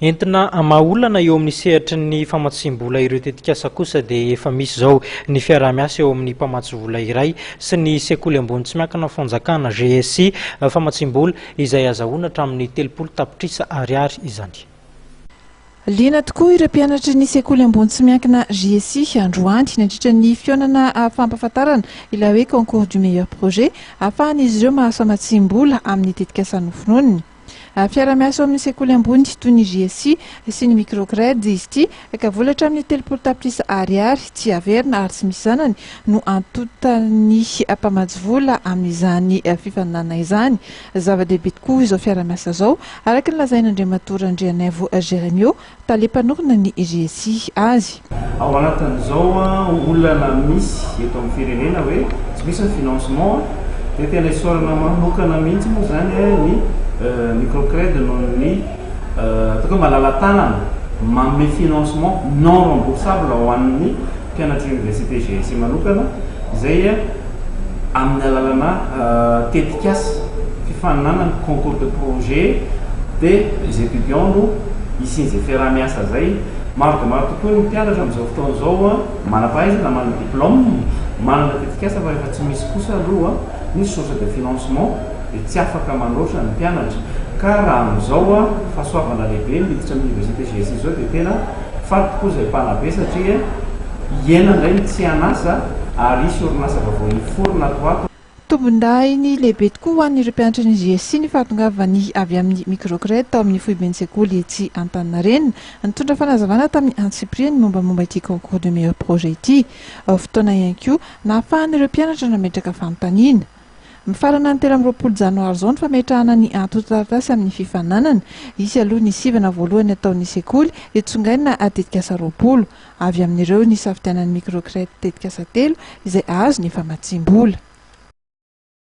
Entina hamaha olana eo amin'ny sehatry ny famatsiam-bola ireo tetikasa kosa dia efa misy izao ny fiaraha-miasa eo amin'ny mpamatsy vola iray sy ny Sekoly ambony tsy miankina fanjakana, GSI, famatsiam-bola, izay hazahoana hatramin'ny telopolo tapitrisa Ariary izany. Liana tokoa ireo mpianatry ny Sekoly ambony tsy miankina, GSI, androany nandritra ny fihaonana fampahafantarana ilay hoe Concours du meilleur projet, ahafahan'izy ireo mahazo famatsiam-bola amin'ny tetikasa noforoniny. Fiara-miasa ao amin'ny sekoly ambony toy ny JSC sy ny Microcred izy ity ka vola hatramin'ny telopolo tapitrisa Ariary tsy averina ary tsy misy zanany no antontan'ny mpamatsy vola amin'izany fifaninanana izany. Zava-dehibe tokoa izao fiara-miasa izao araka ny lazain'Andriamatoa Randrianaivo Jeremio, Tale mpanorina ny GSI azy. Ao anatin'izao olana misy eto amin'ny firenena hoe tsy misy ny financement dia tena isaorana manokana mihitsy moa izany ny Microcred noho ny ataoko hoe malala-tanana manome financement non remboursable ho an'ny mpianatry Université GSI manokana izay amin'ny alalana tetikasa fifaninana ny concours de projet dia les étudiants no hisian'izay fiaraha-miasa izay. Maro dia maro tokoa ny mpianatra amin'izao fotoana izao manam-pahaizana, manana diplôme, manana tetikasa fa rehefa tsy misy kosa aloha ny source de financement dia tsy afaka manoatra ny mpianatra ka raha amin'izao fahasoavana lehibe miditra amin'ny université GSI izao dia tena Faly tokoa izay mpanabe satria hiaina indray ny tsy an'asa ary hisy orinasa vaovao hiforona ato ho ato. Tombondahiny lehibe tokoa ho an'ireo mpianatry ny GSI ny fahatongavany avy amin'ny Microcred tao amin'ny foiben'ny sekoly etsy Antaninarenina. Nitondra fanazavana tamin'ny antsipiriany mombamomba ity Concours du meilleur projet ity. Fotoana ihany koa nahafahan'ireo mpianatra nametraka fanontaniana. Mifarana ny telo amby roapolo janoary izao ny fametrahana ny antontan-taratasy amin'ny fifaninanana. Hisy aloha ny sivana voalohany ataon'ny sekoly, dia tsongaina tetikasa roapolo. Avy amin'ireo nisafidianan'ny Microcred tetikasa telo izay azo ny famatsiam-bola.